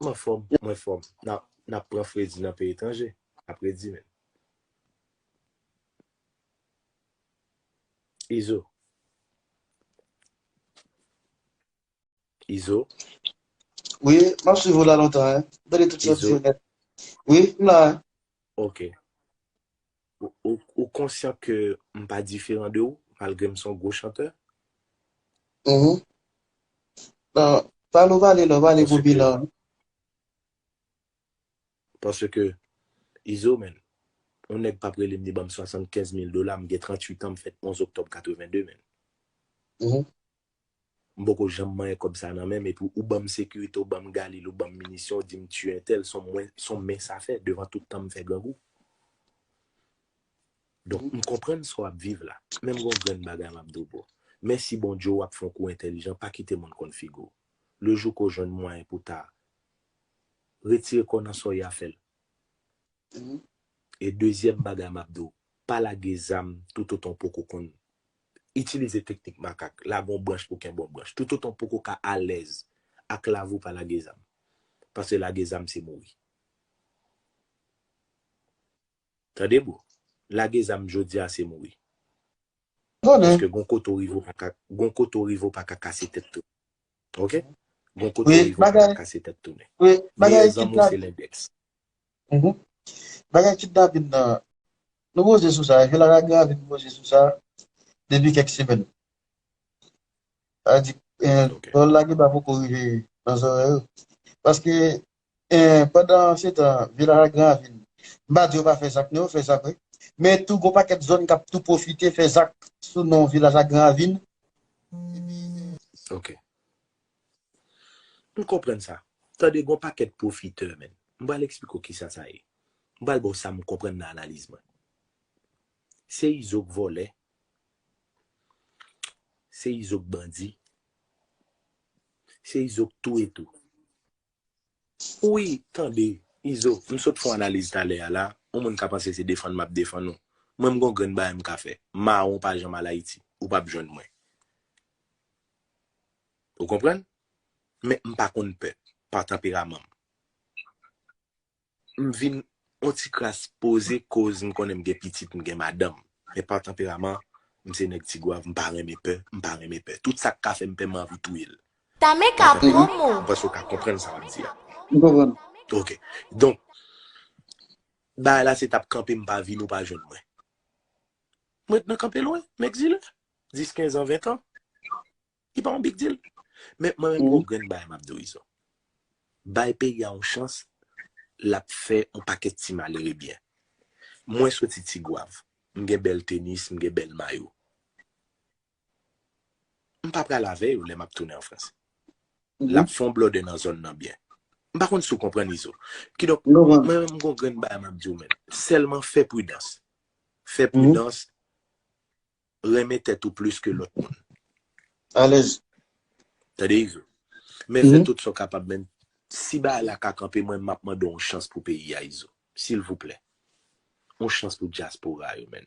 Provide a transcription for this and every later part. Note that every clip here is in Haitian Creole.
M anfòm, mwen fòm. N ap pran fredi nan peyi etranje, apredi menm. Izo. Izo. Wi, m ap swiv ou la lontan. Izo. Wi, m la. Ok. Ou konsyan ke m pa diferan de ou malgre m son gwo chantè? Uhmm. Nan, pa nou pale nan, pale pou bilan an. Paske, Izo menn, yon nèg pap rele m li banm 75 mil dola, m gen 38 an, m fèt 11 oktòb 82 menn. Uhmm. M poko janm manyen kòb sa nan menm epi ou banm sekirite ou banm galil ou banm minisyon ou dim tiye entèl son mwen son men sa fè devan tout tan m fè grangou donk m konprann sa w ap viv la men m gon grenn bagay m ap di w bro mèsi Bondye w ap fon kou entèlijan pa kite moun konn figi w le jou ke w jwenn mwayen pou ta retire kò w nan sa w ye a fè l. E dezyèm bagay map diw, pa lage zam toutotan w poko konn itilize teknik makak, lage yon branch pou kenbe yon branch. Toutotan w poko ka alèz ak lavi w pa lage zam. Pase lage zam se mouri. Tande bro, lage zam jodi a se mouri. Paske gon kote w rive w paka, gon kote w rive w paka kase tèt tounen. Ok? Gon kote w rive w paka kase tèt tounen. Meyè zanmi w se lendèks. Uhmm bagay kidnapin nan nou poze sou sa epi lara gravy nou poze sou sa depi kèk semèn sa vle di pawòl la gentan poko rive nan zòrèy ou paske pandan se tan vye lara gravy m pa di yo pa fè zak non yo fè zak wi men tou gon pakèt zòn kap tou pwofite fè zak sou non vye lara gravy epi. Ok M konprann sa. Tande gon pakèt pwofitè menn. M pral eksplike w kisa sa ye. M pral ba w sa m konprann nan analiz mwen. Se izo k vòlè. Se izo k bandi. Se izo k touye tou. Ui tande izo m sot fon analiz talè a la on moun ka panse se defann map defann ou mwen m gon grenn bagay m ka fè mawon pa janm al ayiti ou pap jwenn mwen ou konprann men m pa konn pè pa tanperaman m. M vin on ti kras poze koz m konnen m gen pitit m gen madanm men pa tanperaman m se nèg tigwav m pa renmen pè m pa renmen pè tout sak ka fèm pè m anvi touye l pa tanperaman m panse w ka konprann sa map di a. M konprann. Ok donk bagay la se tap kanpe m pa vini w pa jwenn mwen m ret nan kanpe lwen m egzile 10 15 an 20 tan. Li pa yon big deal. Men mwen renmen yon grenn bagay m ap di w Izo. Bay peyi a yon chans, l ap fè yon pakèt ti malere byen. Mwen soti Tigwav, m gen bèl tenis, m gen bèl mayo. M pa pral avè yo lè m ap tounen an Frans. L ap fè yon blòdè nan zòn nan byen. M pa konn si w konprann Izo. Kidonk, mwen menm m gen yon grenn bagay m ap di w menm. Sèlman fè pridans. Fè pridans. renmen tèt ou plis ke lòt moun. Alèz. Tande Izo. Men fè tout sa w kapab men si bagay la ka kanpe mwen m ap mande w yon chans pou peyi a Izo. Silvouplè. Yon chans pou dyaspora yo men.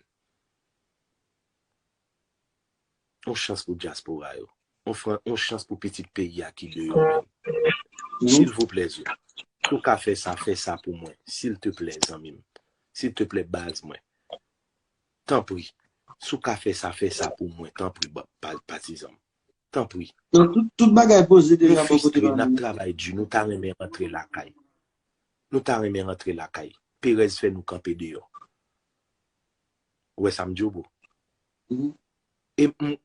Yon chans pou dyaspora yo. Yon chans pou pitit peyi a ki deyò men. Silvouplè Izo. Si w ka fè sa, fè sa pou mwen. Silteplè zanmi m. Silteplè baz mwen. Tanpri, si w ka fè sa, fè sa pou mwen, tanpri, patizan m. Tanpri. Tout bagay poze deja bò kote pa nou. Nou fistre, n ap travay di, nou ta renmen rantre lakay. Nou ta renmen rantre lakay. Perèz fè nou kanpe deyò. Ou wè sa m di w, bro? E m,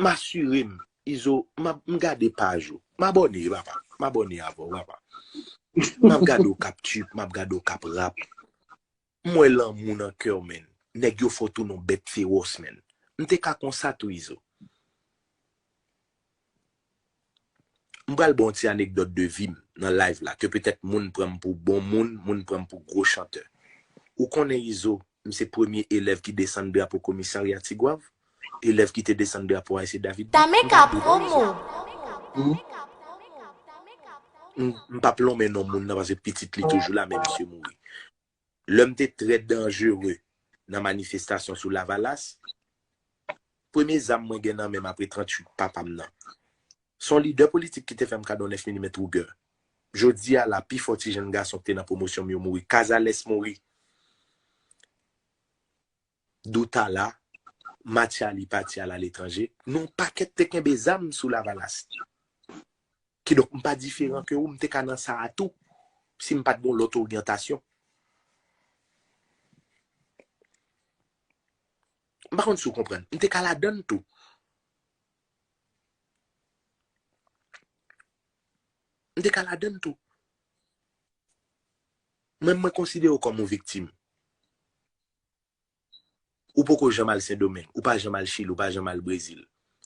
m asire m, Izo, m ap, m gade paj ou. M abòne, papa. M abòne avè w, papa. M ap gade w k ap tchuip, m ap gade w k ap rap. M wè lanmou nan kèw menn. Nèg yo fò tou nou bèt fewòs menn. M te ka konsa tou izo. M pral baw yon ti anekdòt de vim nan live la ke petèt moun pranm pou bon moun, moun pranm pou gwo chantè. Ou konnen izo, m se premye elèv ki desann drapo komisarya tigwav, elèv ki te desann drapo ayse david tou. M pa dwe non izo. M pap lonmen non moun nan paske pitit li toujou la men misye mouri. Lè m te trè danjere nan manifestasyon sou Lavalas, premye zam mwen gen nan men m apre 38 papa m nan, s on lidè politik ki te fè m kado 9 milimèt Ruger. Jodi a la, pifò ti jenn gason ki te nan pwomosyon m yo mouri. Cazares mouri. Doutala, Mathiali pati al aletranje, nou yon pakèt te kenbe zam sou Lavalas. Kidonk m pa diferan ke ou, m te ka nan sa a tou, si m pa t gen yon lòt oryantasyon. M pa konn si w konprann. M te ka ladan l tou. M te ka ladan l tou. Mwen, mwen konsidere w kòm yon viktim. Ou poko janm al sendomeng, ou pa janm al chili, ou pa janm al brezil.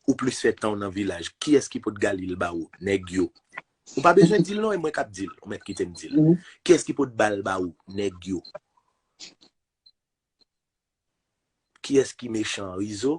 Ou plis fè tanw nan vilaj, kiyès ki pot galil ba ou, nèg yo. Ou pa bezwen dil non e mwen kap dil, ou mèt kitem dil. Kiyès ki pot bal ba ou, nèg yo. Kiyès ki mechan rizo?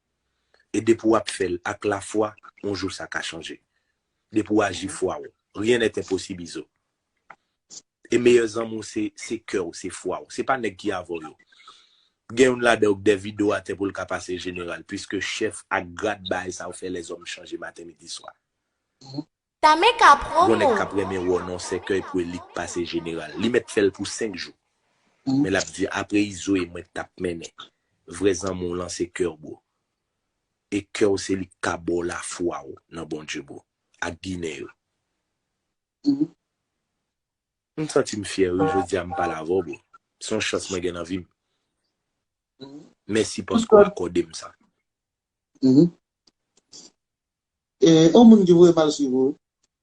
E depi w ap fè l ak lafwa, on jou sa ka chanje. Depi w aji fwa w, rien n'est impossible Izo. E meyè zanmi w se, se kè w, se fwa w. Se pa nèg ki avè w yo. Gen youn ladan yo k dè vide w atè pou l ka pase jeneral, puiske chèf ak grad bagay sa yo fè lèzòm chanje maten midi swa. Tame ka pran Gon nèg mwen. kap renmen wè w nan yon sèkèy pou elit pase jeneral. Li mèt fè l pou 5 jou. Men lap di apre izo e mwen tap mennen. Vrè zanmi w lan se kè w bro. E kè w se li k ka ba w lafwa w nan Bondye bro. Ak ginen yo. M santi m fyè wi jodi a m pale avè w bro. Se yon chans mwen gen nan vi m. Mèsi paske w akòde m sa. Eh on moun ki voye mal swiv ou.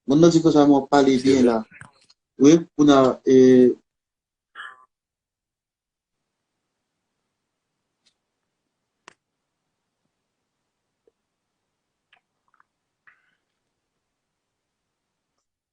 Moun nan di konsa men wap pale byen la wi pouna eh.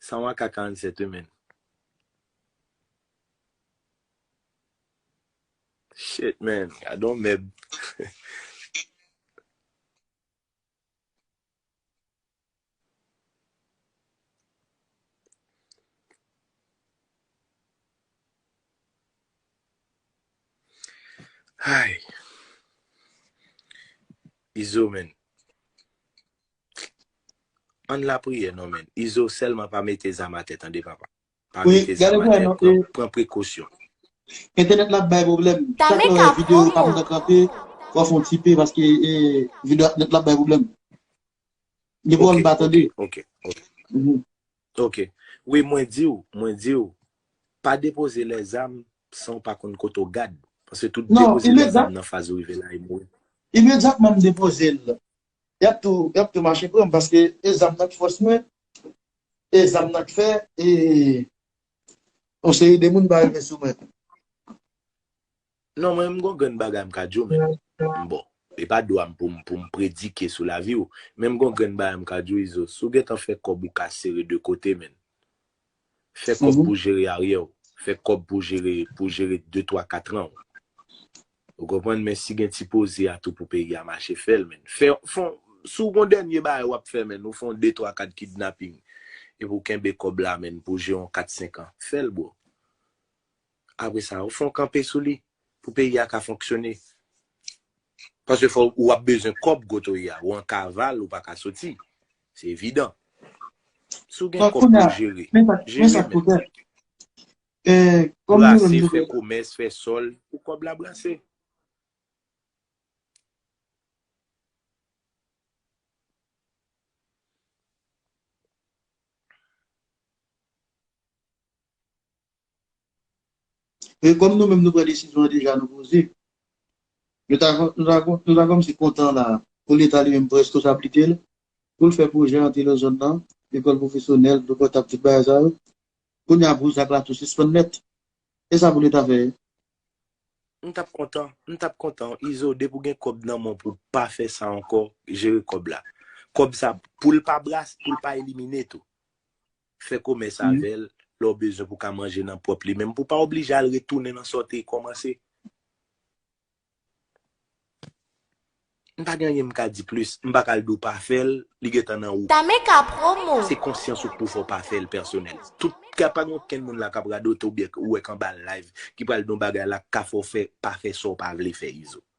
San wa ka 47 wi menn. Shit man, gadon mèb. Ayy izo menn Ann lapriyè non menn izo sèlman pa mete zam atè tande papa pa mete zam atè pran prekosyon. Entènèt la ap bay pwoblèm chak lè w wè video pa gentan kanpe fò w fè yon ti pe paske video entènèt la ap bay pwoblèm gen fwa ou pa tande. Ok wi mwen diw mwen diw pa depoze lè zam san ou pa konn kote ou gad paske tout depoze lè zam nan faz ou rive la e mouri. Imedyatman m depoze l yap tou yap tou mache pranm paske e zam nan k fòs mwen e zam nan k fè e yon seri de moun pa rive sou mwen. Non mwen m gon grenn bagay m ka di w men m bon e pa dwa m pou m pou m predike sou lavi w men m gon grenn bagay m ka di w izo si w gentan fè kòb ou ka sere 2 kote menn fè kòb pou w jere aryè w fè kòb pou w jere pou w jere 2 twa katran w ou konprann men si gen ti poze a tou pou peyi a mache fè l menn fè fon si w gon dènye bagay wap fè menn ou fon 2 twa kat kidnaping epi w kenbe kòb la menn pou w jere yon 4 senkan fè l bro. Apre sa, ou fè yon kanpe sou li pou peyi a ka fonksyone. Paske fò ou ap bezwen kòb kote ou ye a. Ou an kaval, ou pa ka soti. Se evidan. Si ou gen kòb pou ou jere, jere men. Brase, fè komès, fè sòl pou kòb la brase. E kòm nou menm nou pran desizyon an deja nou poze. Nou ta nou ta kòmanse kontan la a pou leta li menm pran reskonsablite l pou l fè pwojè antre nan zòn nan, lekòl pwofesyonèl, dlo potab tout bagay sa yo. Kounye a bouch ak latou sispann nèt. E sa pou leta fè? M tap kontan, m tap kontan wi Izo depi w gen kòb nan men w pou w pa fè sa ankò, jere kòb la. Kòb sa pou l pa brase, pou l pa elimine tou. Fè komès avè l lè w bezwen pou w ka manje nan pwòp li menm pou w pa oblije al retounen nan sa w te kòmanse. M pa gen anyen m ka di plis. M pa ka al di w pa fè l, li gen tan nan ou. Tameka Promo! Se konsyans ou k pou fè w pa fè l pèsonèl. Tout ka pa gen okenn moun la k ap radote oubyen k ou wè k anba live ki pral di yon bagay la k ka fè w fè pa fè sa w pa vle fè Izo.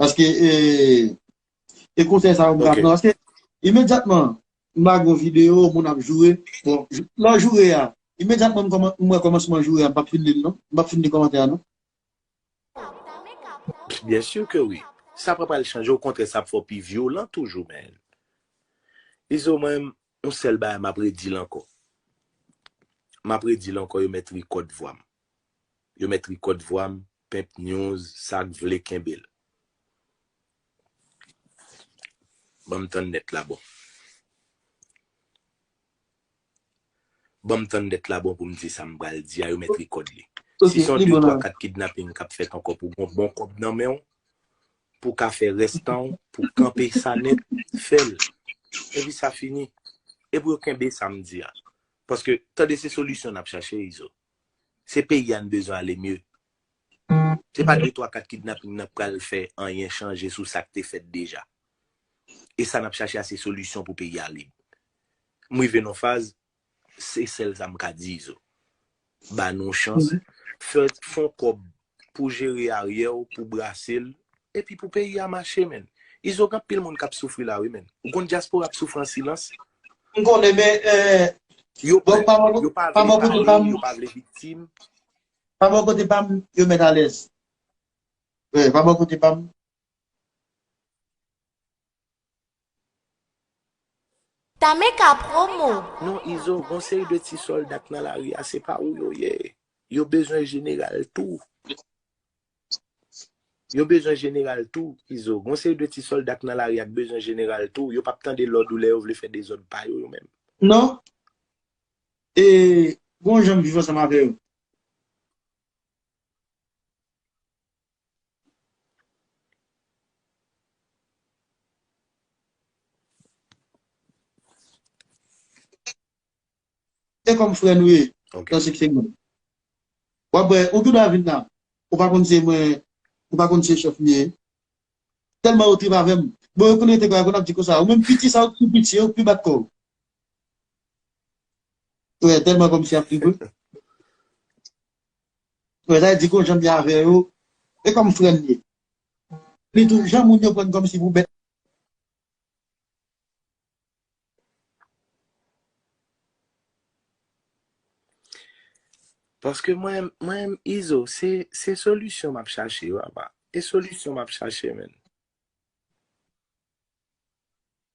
Paske e, e konsèy sa yo grav nan. Paske, imedyatman, mba gwo video, moun ap joure, bon, lò joure a, imedyatman mwen kòmansman joure a, mpap fin li l non, mpap fin li kòmantè a non. Byen sur ke wi. Sa pa pral chanje, o kontrè sa ap fè w pi vyolan toujou menn. Izo mwen, yon sèl bagay map redi l ankò. Map redi l ankò yo mèt rikòd vwa m. Yo mèt rikòd vwa m Pep news sak vle kenbel. Banm tann net la bon. Banm tann net la bon poum di sam pral di a yo met record li. Si son 2 3 4 kidnapping kap fet anko pou gon bon kob nan menw pou ka fe res tanw pou kanpe sa net fel epi sa fini. E pou yo kenbe sam di a. Paske tande se solisyon nap chache izo. Se peyi a n bezwen ale mye. Se pa de twa kat kidnaping nan k pral fè anyen chanje sou sa k te fèt deja. E sa n ap chache a se solisyon pou peyi a lib. M rive nan yon faz, se sèl sa m ka di Izo. Ba nou chans, fè, fon kòb pou jere aryè w pou brase l epi pou peyi a mache menn izo gen anpil moun kap soufri la wi menn ou konn dyaspora ap soufri an silans M konnen men yo pè yo pa vle pale yo pa vle viktim. Pa bò kote pam yo mèt alèz wi pa bò kote pam. Tame ka promo. Non izo gon seri de ti solda k nan lari a se pa ou yo ye yo bezwen jeneral tou yo bezwen jeneral tou izo gon seri de ti solda k nan lari a k bezwen jeneral tou yo pap tande lòd ou lè yo vle fè dezòd pa yo yo menm. Non e gon jan m viv ansanm avè yo. Se kom fre nou ye. Ok. Nan sik segman. Wap wè, ou tou dwa vin la. Ou pa konn se mwen, ou pa konn se chef m ye. Telman yo trip avèm. Bon yo konn rete kwa yo konn ap di konsa. Ou menm piti sa ou tou piti yo pi bat kò w. Ou wè telman kom si ap trip ou. Frè Zay di kon janm ye avè yo e kòm frèm ye. Li tou jan moun yo prann kòmsi pou bèt. Paske mwen mwen m izo se se solisyon map chache papa e solisyon map chache menn.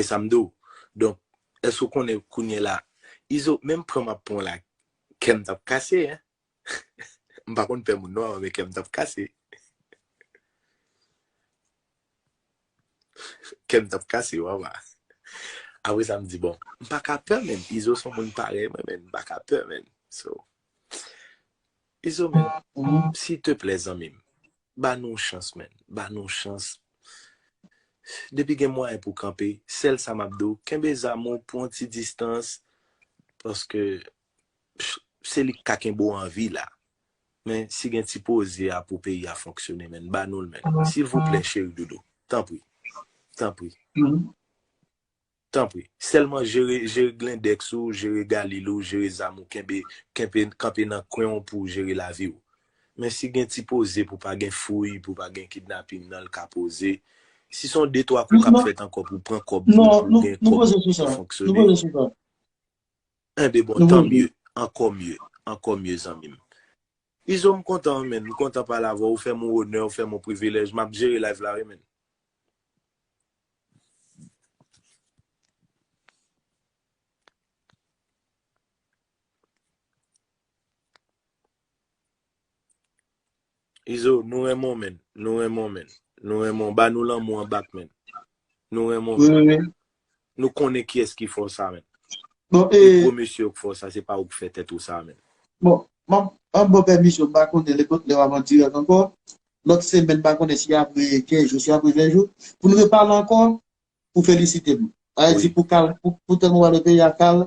E sam di w donk èske ou konnen kounyela izo menm pranm ap pranw la kèm tap kase hein m pa konn pè moun non avan men kèm tap kase kèm tap kase ou avan apre sa m di bon m paka pè menn izo son moun parèy mwen menn m paka pè menn so. Mezanmi sil te plè zanmim ba nou yon chans man ba nou yon chans depi gen mwayen pou kanpe sèl sa map diw kenbe zam ou pou yon ti distans paske se li ki ka kenbe w anvi la men si gen ti poze a pou peyi a fonksyone man ba nou l man silvouplè cheri doudou tanpri tanpri. Tanpri. Sèlman jere jere glindex ou, jere galil ou, jere zam ou kenbe kenpe kanpe nan kwen w pou w jere lavi w. Men si gen ti poze pou pa gen fouy, pou pa gen kidnaping nan l ka poze. Si son de twa kou k ap fèt ankò pou pran kòb pou w pou gen kòb pou fonksyone. Enben bon, tan mye, ankò mye, ankò mye zanmi m. Izo m kontan wi menn, m kontan pale avèw ou fèm on onè ou fèm on privilèj, map jere live la wi menn. Izo nou renmen w menn, nou renmen w menn, nou renmen w, ba nou lanmou an bak menn. Nou renmen w menn. Wi wi wi, Nou konnen kiyès ki fè w sa menm? Bon e. Se gwo mesye yo k fè w sa, se pa ou k fè tèt ou sa menm. Bon, m ap an bò pèmisyon, m pa konnen lè lè w ap an dirèk ankò. Lòt semèn m pa konnen si apre 15 jou, si apre 20 jou. Pou n repale ankò, pou w felisite m. Sa vle di pou kal, pou tèlman w pale peyi a kal,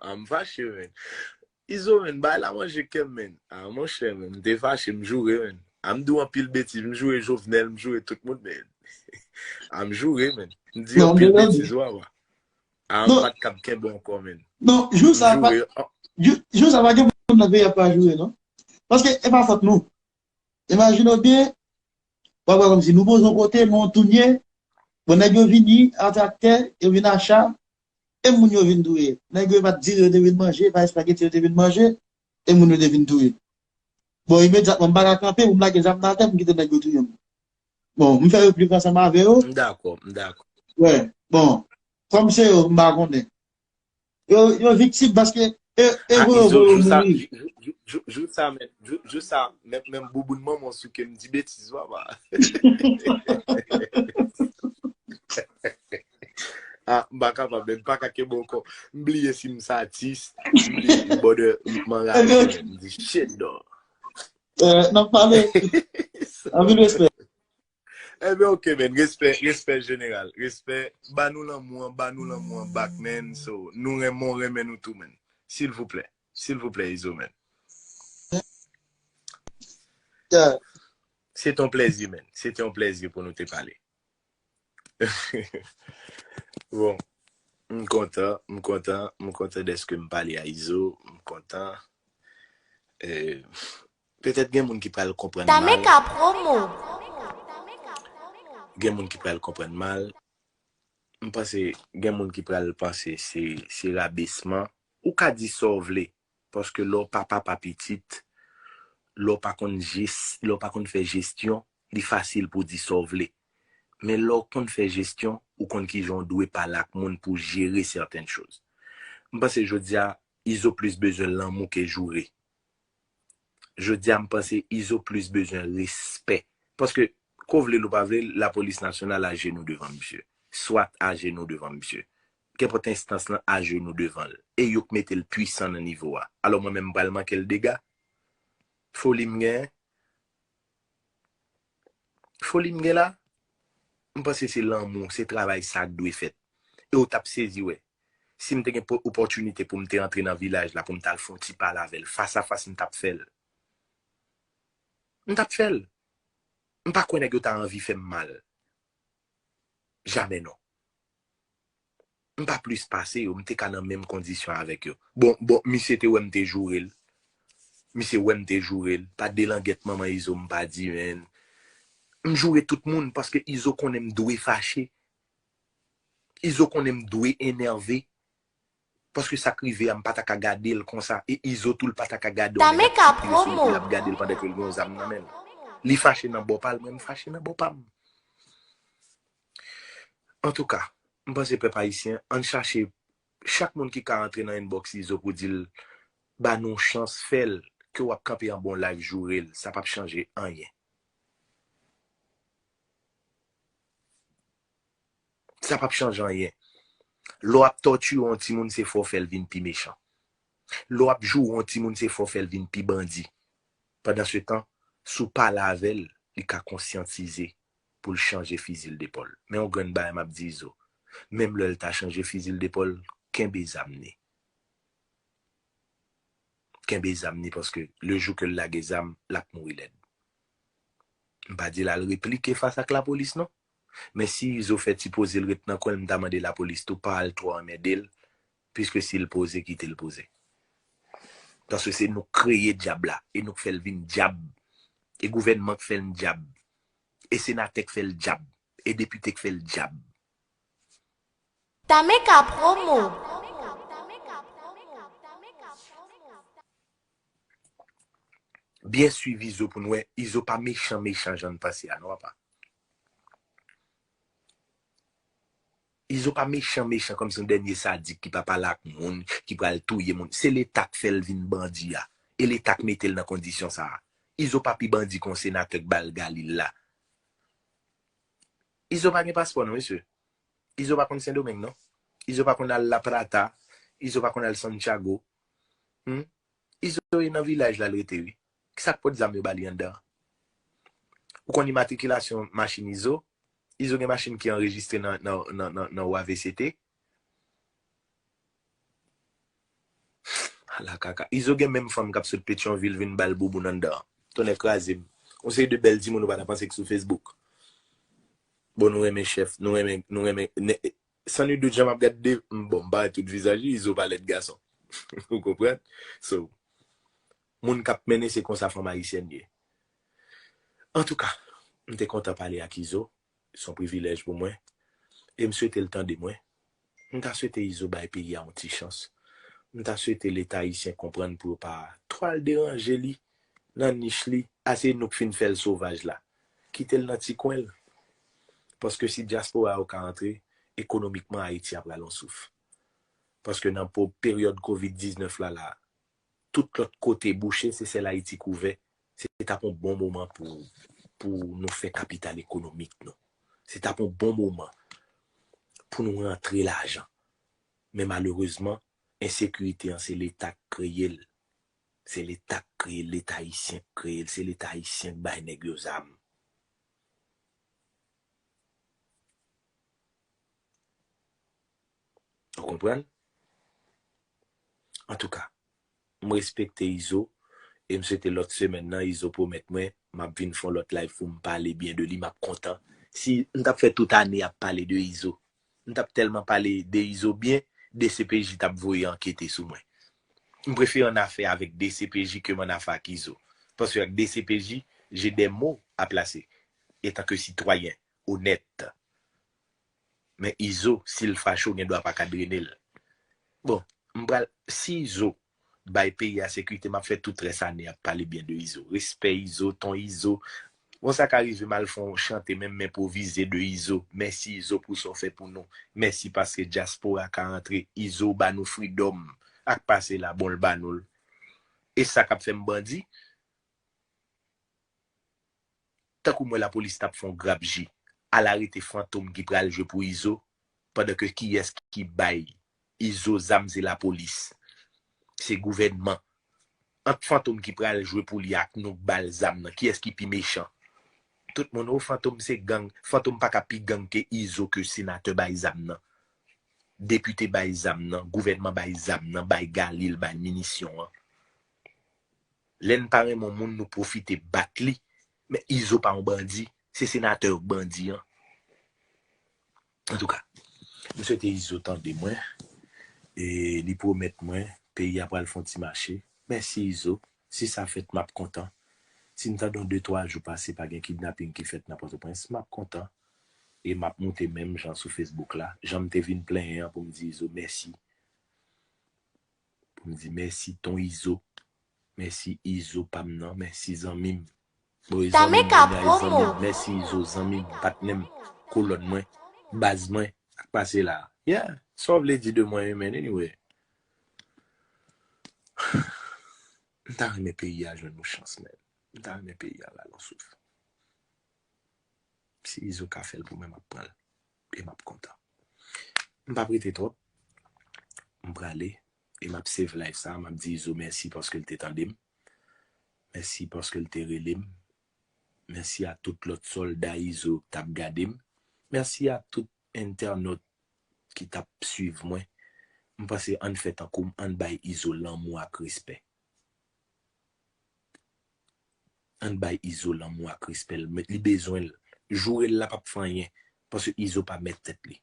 Ah m fache menn. Izo menn bay la manje kem menn. Ah monchè menn m te fache m joure menn. Ah m di w anpil betiz m joure Jovenel m joure tout moun menn. Ah m joure menn. M di anpil betiz wawa. Ah m pat kab kenbe ankò menn. Non jou sa pa jou sa pa gen moun nan peyi a pa joure non. Paske e pa fòt nou. Imajine w byen wap wè kòmsi nou poze yon kote men w tounen bon nèg yo vini a traktè yo vin a cha e moun yo vin touye nèg yo e pat dire yo te vin manje e pa espageti yo te vin manje e moun yo te vin touye bon imedyatman m paka kanpe pou m lage zam nan atè pou m kite nèg yo touye m bon m fè replik ansanm avè yo M dakò, m dakò. wè bon kòm se yo m pa konnen yo yo viktim paske E pou yon volon moun li. Jou sa men, jou sa men, men m bouboun man mwen souke m di betiz wap a. A, m baka pa bèm, pa kake bon kon. M bliye si m sa atis, m bliye si m bode, m man la men, m di shit do. E, nan pale, anvi m espè. Ebyen ok men respè respè jeneral respè ba nou lanmou an ba nou lanmou an bak men so nou renmen w renmen nou tou men silvouplè silvouplè izo men se te yon plezi men se te yon plezi pou nou te pale bon m kontan m kontan m kontan deske m pale a izo m kontan eee Petèt gen moun ki pral konprann mal. Tameka promo! Gen moun ki pral konprann mal. M panse gen moun ki pral panse se rabesman. Ou ka di sa w vle, paske lè w pa papa pitit, lè w pa konn jis, lè w pa konn fè jesyon, li fasil pou w di sa w vle. Men lè w konn fè jesyon, ou konn ki jan w dwe pale ak moun pou w jere sèten choz. M panse jodi a, Izo plis bezwen lanmou ke joure. Jodia m panse Izo plis bezwen respè paske ke w vle l ou pa vle l lapolis nasyonal ajenou devan misye, swat ajenou devan misye, kenpòt enstans lan ajenou devan l e yo k mete l pwisan nan nivo a. Alò mwen menm m pral manke l dega? Foli m gen? Foli m gen la? M panse se lanmou, se travay sa k dwe fèt. E ou t ap sezi wè, si m te gen opòtinite pou m te antre nan vilaj la pou m t al fè yon ti pale avè l fasafas m t ap fè l. M t ap fè l. M pa kwè nèg yo ta anvi fè m mal. Jamè non. M pa plis pase yo, m te ka nan menm kondisyon avèk yo. Bon, bon, misye te wè m te joure l. Misye wè m te joure l. Pa de langèt manman Izo m pa di ren. M joure tout moun paske Izo konnen m dwe fache. Izo konnen m dwe enève. Paske sak rive a m pa ta ka gadel konsa e izo tou l pa ta ka gade yon nèg ap Tameka tire sou li promo. pou lap gadel pandan ke l gen yon zam nan men l. Li fache nan bò pa l mwen m fache nan bò pa m. Antouka, m panse pèp ayisyen ann chache chak moun ki ka antre nan inbox izo pou di l ba nou yon chans fè l ke w ap kanpe anba yon live joure l sa pap chanje anyen. Sa pap chanje anyen. Lè w ap tòtire yon timoun se fè w fè l vin pi mechan. Lè w ap joure yon timoun se fè w fè l vin pi bandi. Pandansetan, si w pale avè l, li ka konsyantize pou l chanje fizi l depòl. Men yon grenn bagay m ap di Izo, menm lè l ta chanje fizi l depòl, kenbe zam ni. Kenbe zam ni paske le jou ke l lage zam, l ap mouri lèd. M pa di l al replike fas ak lapolis non. Men si izo fè ti pozel ret nan kwenl mta mande lapolis tou pa al twò anmèdel piske sil poze kitel poze paske se nouk kreye dyab la e nouk fèl vin dyab e gouvènman k fèn dyab e senatè k fèl dyab e depite k fèl dyab. Tameca promo! Byen swiv izo poun wè izo pa mechan mechan jann panse a non apa izo pa mechan mechan kòmsi yon dènye sadik ki pa pale ak moun ki pral touye moun se leta k fèl vin bandi a e leta k metel nan kondisyon sa izo pa pi bandi kon senatè k bal galil la izo pa gen paspò non mesye izo pa konn sendomeng non izo pa konn al laprata izo pa konn al santiago Humm izo e nan vilaj la l rete ui kisak pot zam yo bali andan an ou konn imatrikilasyon machin izo izo gen machin ki anrejistre nan wavct ala kaka izo gen menm fanm kap sot petyonvil vin bal bouboun andan an tonnè krazem yon seri de bèl timoun ou pata panse ki sou fesbouk bon nou renmen chèf nou renmen nou renmen. San nul dout jan map gad Dave m bon m pa wè tout vizaj li izo pa lèd gason ou konprann so moun kap mennen se konsa fanm ayisyèn ye antouka m te kontan pale ak izo son privilèj pou mwen e m swetel tande mwen m ta swete izo bay peyi a yon ti chans m ta swete leta ayisyen konprann pou yo pa twal deranje li nan nich li a se nou k fin fèl sovaj la. Kitel nan ti kwenl. Paske si diaspora yo ka antre, ekonomikman Ayiti ap rale yon souf. Paske nan po peryod covid 19 la la, tout lot kote bouche se sel Ayiti k ouvè, se tap yon bon moman pou pou nou fè kapital ekonomik nou. Se tap yon bon moman pou nou rantre lajan. Men malerezman, ensekirite an se leta k kreyel, Se leta k kreye l, leta ayisyen k kreye l, se leta ayisyen k bay nèg yo zam. Ou konprann? Antouka, m respekte Izo e m swete lòt semèn nan Izo pwomèt mwen m ap vin fon lòt live pou m pale byen de li, m ap kontan. Si m t ap fè tout ane ap pale de Izo. M tap telman pale de izo byen dcpj tap voye ankete sou mwen. M prefere an afè avek dcpj kem an afè ak izo. Paske ak dcpj je dè mo a plase etan ke sitwayen onèt. Men izo sil fache w gen dwa paka drene l. Bon m pral si izo bay peyi a sekirite map fè tout rès ane ap pale byen de izo respè izo ton izo bon sa ka rive m al fon chante menm m enprovize de izo mèsi izo pou sa w fè pou nou mèsi paske dyaspora ka antre izo ba nou fridom ak pase la bon l ba nou l e sa kap fè m bandi. Tankoum wè lapolis tap fon grap ji al arete fantom ki pral jwe pou izo pandan ke kiyès ki bay izo zam se lapolis se gouvènman ant fantom ki pral jwe pou li ak nouk bal zam nan kiyès ki pi mechan tout moun oh fantom se gang fantom paka pi gang ke izo ke senatè bay zam nan depite bay zam nan gouvènman bay zam nan bay galil bay minisyon an. Lè n pa renmen yon moun nou pwofite bat li men izo pa yon bandi se senatè yo k bandi an antouka m swete izo tande mwen e li pwomèt mwen peyi a pral fon ti mache mèsi izo si sa fèt map kontan si m tande yon de twa jou pase pa gen kidnaping ki fèt nan pòtoprens map kontan e map moute menm jan sou fesbouk la jan m te vin plenyen an pou m di izo mèsi. pou m di mèsi ton izo mèsi izo pam nan mèsi zanmim boy zanmim bougay zanmim mèsi izo zanmim patnèm kolòn mwen baz mwen sak pase la yeah sa w vle di de mwen wi men anyway m ta renmen peyi a jwenn yon chans men m ta renmen peyi a rale yon souf si izo ka fèl pou mwen map pranl. e map kontan. M pap rete twòp, m prale e map save live sa, map di Izo mèsi paske l te tande m, mèsi paske l te rele m, mèsi a tout lòt sòlda Izo k tap gade m, mèsi a tout entènot ki tap swiv mwen, m pase ann fè tankou m, ann bay Izo lanmou ak respè. Ann bay izo lanmou ak respèl met li bezwenl jourel la pap fè anyen paske izo pa mèt tèt li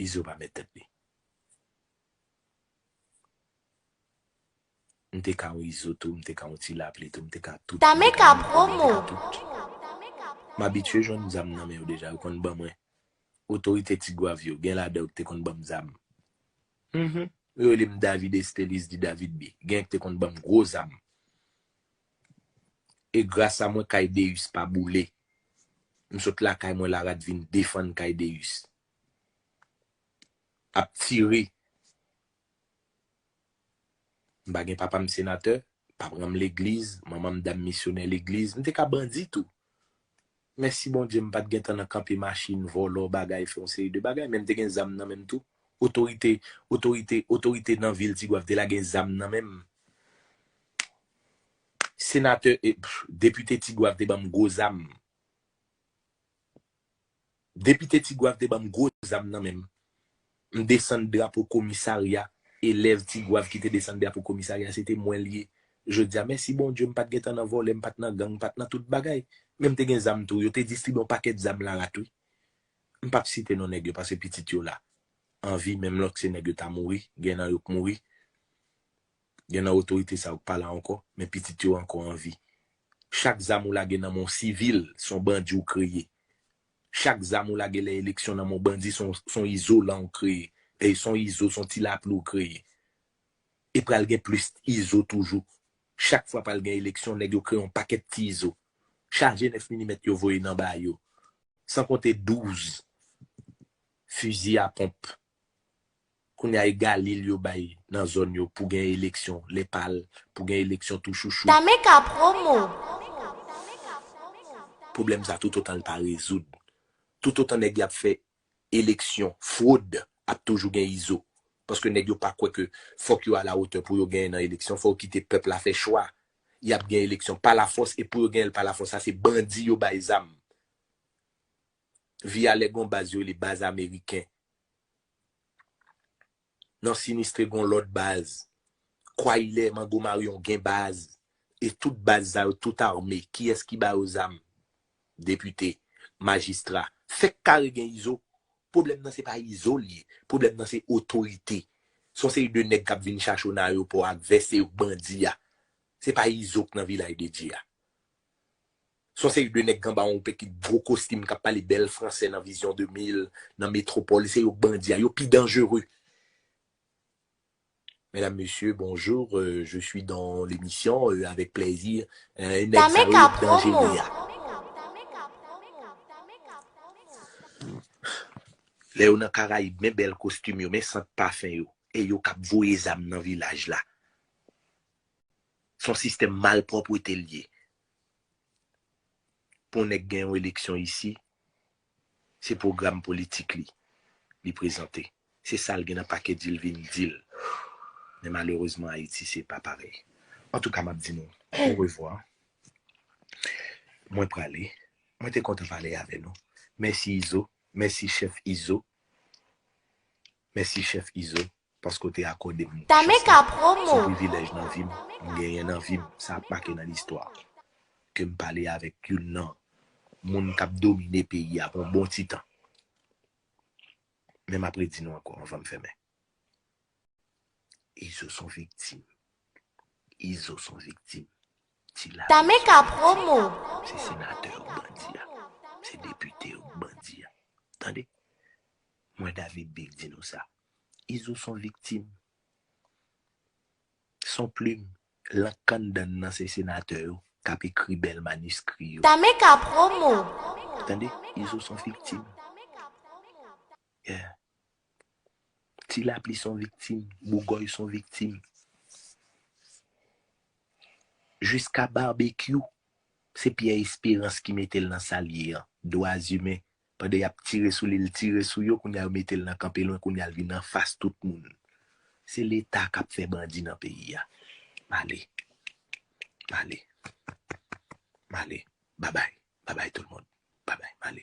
izo pa mèt tèt li. M te ka yon izo tou, m te ka yon ti lapli tou, m te ka tout, m te ka yon pwòp, m te ka tout. M abitye jwenn zam nan men yo deja, yo konn ban mwen. Otorite Tigwav yo, gen ladan yo ki te konn ban m zam. Hum! Yo rele m David Estélice dit David B. Genyen ki te konn ban m gwo zam. E gras a mwen kay Déus pa boule. M sot lakay mwen Larat vin defann kay Déus. Ap tire. M pa gen papa m senatè, papran m legliz, manman m dam misyonè legliz, m te ka bandi tou. Mèsi Bondye m pa t gen tan nan kanpe machin, vòlò bagay, fè yon seri de bagay men m te gen zam nan men m tou. Otorite, otorite, otorite nan vil Tigwav te lage zam nan men m. Senatè e, pff, depite Tigwav te ban m gwo zam. Depite Tigwav te banm gwo zam nan menm. M desann drapo komisarya, elèv Tigwav ki te desann drapo komisarya se te mwen li ye jodi a. Mèsi Bondye m pa t gen tan nan vòlè, m pa t nan gang, m pa t nan tout bagay. Men m te gen zam tou. Yo te distribye yon pakèt zam la rat wi. M pap site non nèg yo paske pitit yo la an vi menm lòt se nèg yo ta mouri, gen nan yo k mouri. Gen nan otorite sa yo k pa la ankò, men pitit yo ankò an vi. Chak zam ou lage nan men yon sivil, se yon bandi ou kreye. Chak zam ou lage lè eleksyon nan men yon bandi, se yon izolan ou kreye. Dèyè se yon izo, se yon ti lapli ou kreye. E pral gen plis izo toujou. Chak fwa pral gen eleksyon, nèg yo kreye yon pakèt ti izo. Chaje 9 milimèt yo voye nan ba yo. San konte 12 fizi a ponp Kounya e galil yo bay nan zòn yo pou gen eleksyon lè pal pou gen eleksyon tou chouchou. Tame ka promo. Pwoblèm sa toutotan l pa rezoud, toutotan nèg y ap fè eleksyon fwod ap toujou gen izo. Paske nèg yo pa kwè ke fòk yo alawotè pou yo genyen nan eleksyon, fò yo kite pèp la fè chwa. Y ap gen eleksyon palafòs e pou yo genyen l palafòs sa se bandi yo bay zam. vi a lè gon baz yo rele baz ameriken nan sinistre gon lòt baz kway lè mango maryon gen baz e tout baz sa yo tout arme kiyès ki ba yo zam depite majistra fèk kare gen izo pwoblèm nan se pa izo l ye pwoblèm nan se otorite son seri de nèg kap vin chache w nan ayewopò ak vès se yo k bandi a se pa izo k nan vilay de dye a. Son seri de nèg anba yon pekit gwo kostim kap pale bèl fransè nan Vision 2000, nan Metropole, se yo bandi a, yo pi danjere. Mesdames, Messieurs, bonjour, je suis dans l'émission avec plaisir, nèg sa yo yo pi danjere a. Lè yo nan Karayib, men bèl kostim yo, men sant pafen yo, e yo kap voye zam nan vilaj la. Son sistèm malpwòpwete l ye. Pou yon nèg gen yon eleksyon isi, se pwogram politik li, li prezante. Se sa l gen nan pake di l vin di l. Men malerezman Ayiti se pa parèy. Antouka m ap di nou orevwa. Mwen prale. Mwen te kontan pale avè nou. Mèsi Izo. Mèsi chèf Izo. Mèsi chèf Izo. paske w te akòde m chans sa. Se privilèj nan vi m, m genyen nan vi m, sa ap make nan listwa ke m pale avèk youn nan moun k ap domine peyi a pou yon bon ti tan. Men m ap redi nou ankò anvan m fèmen. Izo s on viktim. Izo s on viktim. Ti Lame s on viktim. Se senatè yo k bandi a. Se depite yo k bandi a. Tande! Mwen David Big di nou sa. Izo son viktim son plim lank kanndann nan se senatè yo kap ekri bèl maniskri yo. Tameka promo. Tande izo son viktim yeah ti lapli son viktim bougòy son viktim jiska barbekyou se pyè esperans ki metel nan sal ye an dwazimen Pandan yap tire sou li l tire sou yo kounya yo metel nan kanpe lwen kounya l vin anfas tout moun se leta kap fè bandi nan peyi a male male male babay babay tout moun babay male.